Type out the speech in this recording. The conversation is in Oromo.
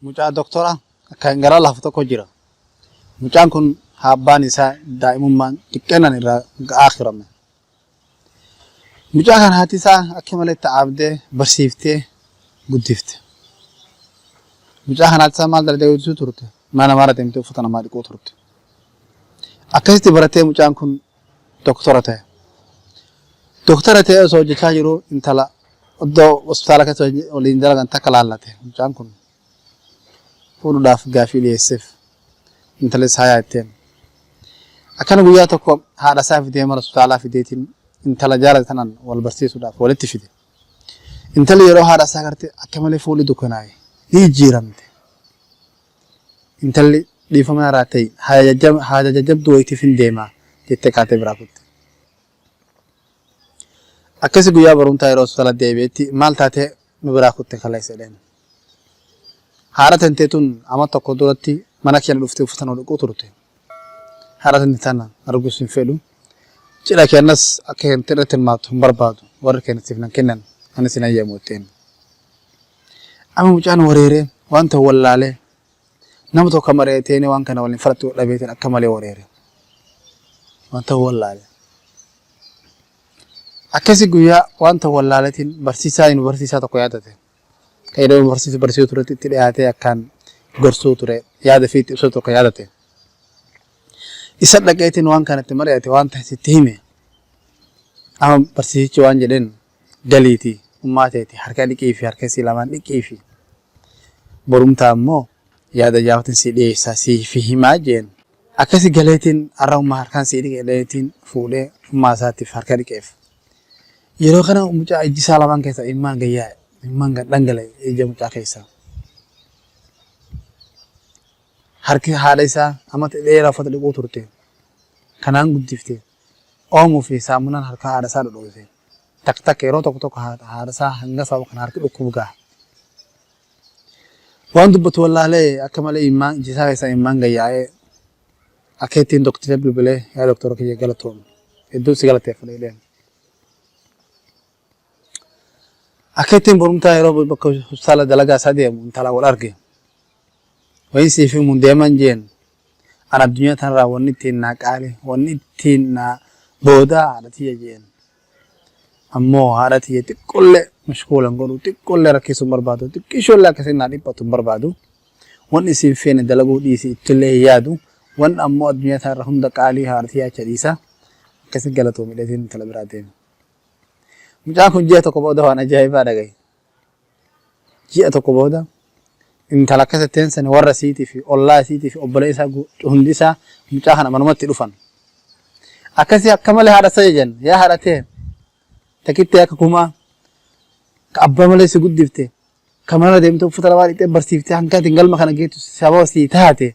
Mucaa doktora kan gara lafa tokko jira. Mucaan kun abbaan isaa daa'imummaan xiqqeennan irraa ga'aa turame. Mucaa kan haati isaa akka malee itti aabdee barsiiftee guddifte. Mucaa kan haati isaa maal dalagdee guddisuu turte? Mana namaarra deemtee uffata namaa dhiquu turte. Akkasitti baratee mucaan kun doktora ta'e. Doktora ta'ee osoo hojjechaa jiru intala iddoo hospitaala keessa waliin dalagan takka laallate mucaan kun. fuudhuudhaaf gaafii dhiyeesseef. Intalis hayaa itteen. Akkana guyyaa tokko haadha isaa fidee mana hospitaalaa fideetiin intala jaalate tanaan wal barsiisuudhaaf walitti fide. Intalli yeroo haadha isaa garte akka malee fuulli dukkanaa'e ni jijjiiramte. Intalli dhiifama irraa ta'e haja jajjabduu wayitiif hin deema jettee kaatee biraa kutte. Akkasi guyyaa barumtaa yeroo hospitaala deebi'etti maal taatee nu biraa kutte kaleessa jedheen. Haadha tantee tun ama tokko duratti mana keenya dhuftee uffata nu dhiquu turte. Haadha tante tana arguus hin fedhu. Cidha keenyas akka hin irratti hirmaattu hin barbaadu. Warri keenya siif nan kennan anis hin hayyamu jetteen. Amma mucaan wareeree wanta wallaalee Nama tokko mari'atee inni waan kana waliin falaxuu dhabeetiin akka malee wareere. Wanta wallaale. Akkasii guyyaa wanta wallaaletiin barsiisaa inni barsiisaa tokko yaadate. Kan yeroo barsiisu barsiisuu turetti itti dhiyaatee akkaan gorsuu ture yaada fi itti ibsuu tokko yaadate. Isa dhaqeetiin waan kanatti mari'ate waan ta'e sitti hime. Amma barsiisichi waan jedheen galiiti ummaa teeti harka dhiqiifi harka isii lamaan dhiqiifi borumtaa immoo yaada jaawatin sii dhiyeessaa siifi himaa jeen akkasi galeetiin arra ummaa harkaan sii dhiqe jedheetiin fuudhee ummaa isaatiif harka dhiqeef yeroo kana mucaa ijji isaa lamaan keessa immaan gayyaa'e immaan gad dhangale ija mucaa keessaa harki haadha isaa amma dheeraa uffata dhiquu turte kanaan guddifte Oomo fi saamunaan harkaa haadha isaa dhodhoose. Takk takka yeroo tokko tokko haadha isaa hanga sababa kana harki dhukkubu gaha. Waan dubbatu wallaalee akka malee immaan iji isaa keessaa immaan gayyaa'ee akka ittiin doktira bilbilee yaa doktora kiyya galatoomi. Hedduun si galateeffadha jedheen. Akka ittiin borumtaa yeroo bakka hospitaala dalagaa isaa deemu intala wal arge. Wayin siif himuun deeman jeen an addunyaa tanarraa wanni ittiin naa qaali wanni ittiin naa boodaa haadha tiyya jeen. Ammoo haadha tiyya xiqqollee mashkuula hin godhu xiqqollee rakkisuu hin barbaadu xiqqishoollee akkasiin naa dhiphatu hin barbaadu. Wanni isin feene dalaguu dhiisi ittillee hin yaadu. Wanni ammoo addunyaa tanarra hunda qaalii haadha tiyyaa acha dhiisa. Akkasi galatoomi dheetiin intala biraa deeme. Mucaan kun ji'a tokko booda waan ajaa'ibaa dhagaye. Ji'a tokko booda intala akkas ittiin sani warra isiitii fi ollaa isiitii fi obboleessaa hundi isaa mucaa kana manumatti dhufan. Akkasii akka malee haadha isaa jajan yaa haadha ta'e takittee akka kumaa ka abbaa malee si guddifte ka mana deemtee uffata lamaa dhiqxee barsiiftee hanga ittiin galma kana geettu sababa sii taate.